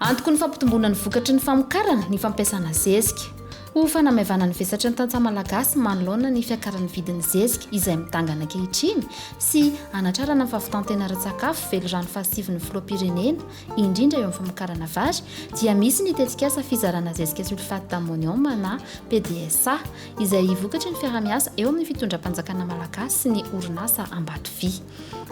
Antoko ny fampitomboana ny vokatry ny famokarana ny fampiasana zezika. Ho fanamaivana ny vesatry ny tantsaha malagasy manoloana ny fiakaran'ny vidin'ny zezika izay midangana ankehitriny sy hanatrarana ny fahavitan-tena ara-tsakafo velirano fahasivin'ny filoham-pirenena indrindra eo amin'ny famokarana vary, dia misy ny tetikasa fizarana zezika sulfate d'ammonium na PDSA, izay vokatry ny fiaraha-miasa eo amin'ny fitondram-panjakana malagasy sy ny orinasa Ambatovia.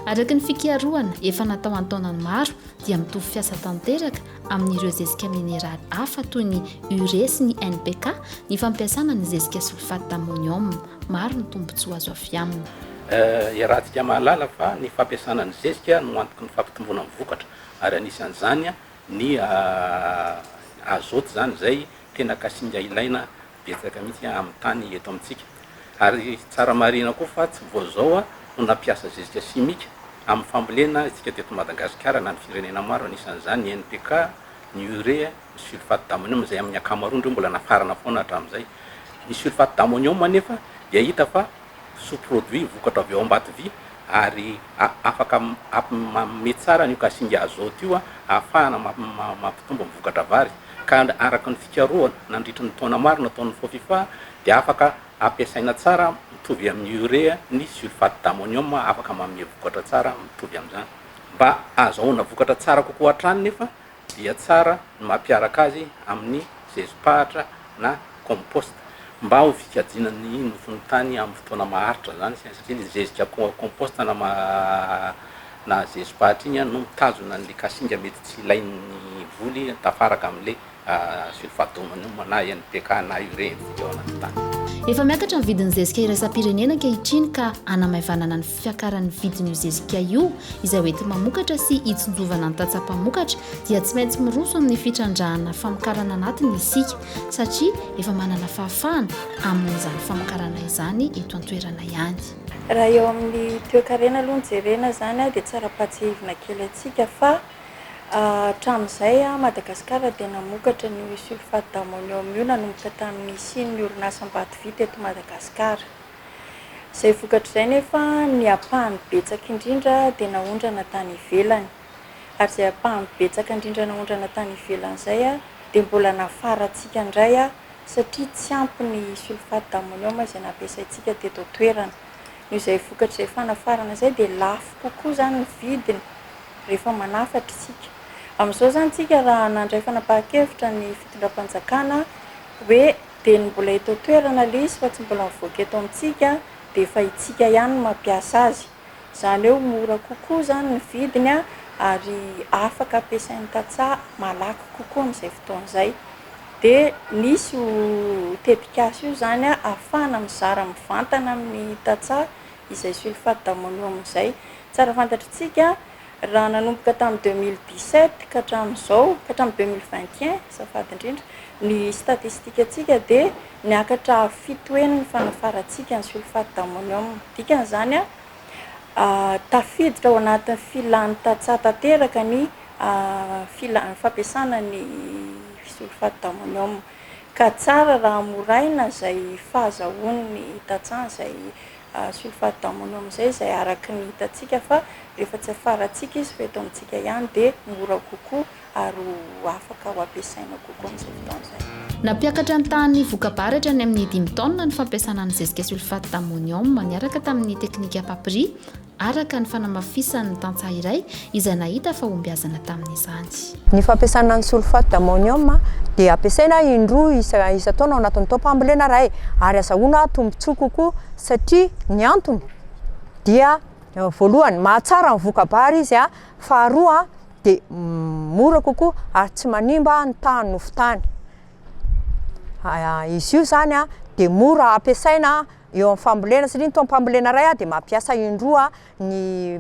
Araka ny fikarohana efa natao an-taonany maro, dia mitovy fiasa tanteraka amin'ireo zezika mineraly hafa toy ny urée sy ny NPK ny fampiasana ny zezika sulfate d'ammonium. Maro ny tombontsoa azo avy aminy. Iarahantsika mahalala fa ny fampiasana ny zezika no antoky ny fampitomboana ny vokatra ary anisan'izany ny azote izany izay tena kasinga ilaina betsaka mihitsy amin'ny tany eto amintsika. Ary tsara marihina koa fa tsy vao izao no nampiasa zezika simika amin'ny fambolena isika teto Madagasikara na ny firenena maro anisan'izany ny NPK, ny urea, ny sulfate d'ammonium izay amin'ny ankamaroany ireo mbola nafarana foana hatramin'izay. Ny sulfate d'ammonium anefa dia hita fa sous-produit, vokatra avy ao Ambatovy, ary afaka mampme tsara an'io kasinga azote io ahafahana mampitombo ny vokatra vary. Ka araka ny fikarohana nandritry ny taona maro nataon'ny Fofifa dia afaka ampiasaina tsara mitovy amin'ny urea ny sulfate d'ammonium afaka manome vokatra tsara mitovy amin'izany. Mba ahazahoana vokatra tsara kokoa hatrany nefa dia tsara ny mampiaraka azy amin'ny zezim-pahatra na compost mba ho fikajiana ny nofon'ny tany amin'ny fotoana maharitra izany isika satria ilay zezika compost na ma na zezim-pahatra iny no mitazona an'ilay kasinga mety tsy ilain'ny voly tafaraka amin'ilay sulfat d'amonium na NPK na urea eo anaty tany. Efa miakatra ny vidin'ny zezika iraisam-pirenena ankehitriny ka hanamaivanana ny. fiakaran'ny vidin'io zezika io izay ho ety mamokatra sy hitsinjovana ny tantsaha mpamokatra dia tsy maintsy miroso amin'ny fitrandrahana famokarana anatiny isika satria efa manana fahafahana amin'izany famokarana izany eto an-toerana ihany. Raha eo amin'ny toekarena aloha no jerena izany dia tsara pahatsihivina kely antsika fa hatramin'izay Madagasikara dia namokatra an'io sulfate d'ammonium io nanomboka tamin'ny nisian'ny orinasa Mbatovita eto Madagasikara. Izay vokatr'izay nefa ny ampahany betsaka indrindra dia naondrana tany ivelany. Ary izay ampahany betsaka indrindra naondrana tany ivelany izay dia mbola nafarantsika indray satria tsy ampy ny sulfate d'ammonium izay nampiasaintsika teto an-toerana. Noho izay vokatr'izay fanafarana izay dia lafo kokoa izany ny vidiny rehefa manafatra isika. Amin'izao izany isika raha nandray fanapahan-kevitra ny fitondram-panjakana hoe Dia ny mbola eto an-toerana ilay izy fa tsy mbola mivoaka eto amintsika dia efa itsika ihany no mampiasa azy. Izany hoe mora kokoa izany ny vidiny ary afaka ampiasain'ny tantsaha malaky kokoa amin'izay fotoana izay. Dia nisy io tetikasa io izany ahafahana mizara mivantana amin'ny tantsaha izay sulfate d'ammonium izay. Tsara fantatr'itsika. Raha nanomboka tamin'ny deux mille dix sept ka hatramin'izao, ka hatramin'ny deux mille vingt et un azafady indrindra, ny statistikantsika dia niakatra avo fito heny ny fanafarantsika ny sulfate d'ammonium. Dikan'izany, tafiditra ao anatin'ny filàn'ny tantsaha tanteraka ny filà- ny fampiasana ny sulfate d'ammonium. Ka tsara raha hamoraina izay fahazahoan'ny tantsaha izay. sulfate-d'ammonium amin'izay izay araka ny hitantsika fa rehefa tsy afarantsika izy fa eto amintsika ihany dia mora kokoa ary ho afaka ho ampiasaina kokoa amin'izay fotoana izay. Nampiakatra ny tahan'ny voka-baratra ny amin'ny dimy taonina ny fampiasana ny zezika sulfate-d'ammonium niaraka tamin'ny teknika Papri, araka ny fanamafisan'ny tantsaha iray izay nahita fahombiazana tamin'izany. Ny fampiasana ny sulfate d'ammonium dia ampiasaina indroa isan-taona ao anatin'ny taom-pambolena iray ary azahoana tombontsoa kokoa satria ny antony dia voalohany mahatsara ny voka-bary izy, faharoa dia mora kokoa ary tsy manimba ny tahan'ny nofon-tany. Izy io izany dia mora ampiasaina eo amin'ny fambolena satria ny taom-pambolena iray dia mampiasa indroa ny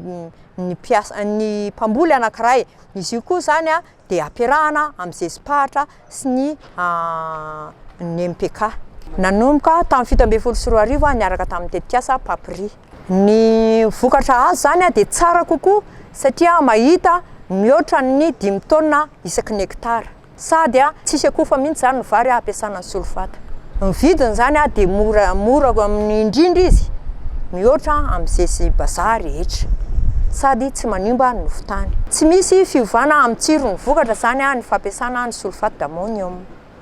ny mpiasa ny mpamboly anankiray. Izy io koa zany a de ampiarahana amin'ny zezi-pahatra sy ny ny MPK. Nanomboka tamin'ny fito ambin'ny folo sy roa arivo aho niaraka tamin'ny tetikasa PAPRI. Ny vokatra azo zany dia tsara kokoa satria mahita mihoatra ny dimy taonina isaky ny hekitara. Sady a, tsisy akofa mihitsy zany ny vary a, ampiasana ny solfata. Ny vidiny zany a, dia mora mora amin'ny indrindra izy, mihoatra amin'ny zesy bazaha rehetra. Sady tsy manimba ny nofo tany. Tsy misy fiovana amin'ny tsiro ny vokatra zany a, ny fampiasana ny sulfate d'ammonium.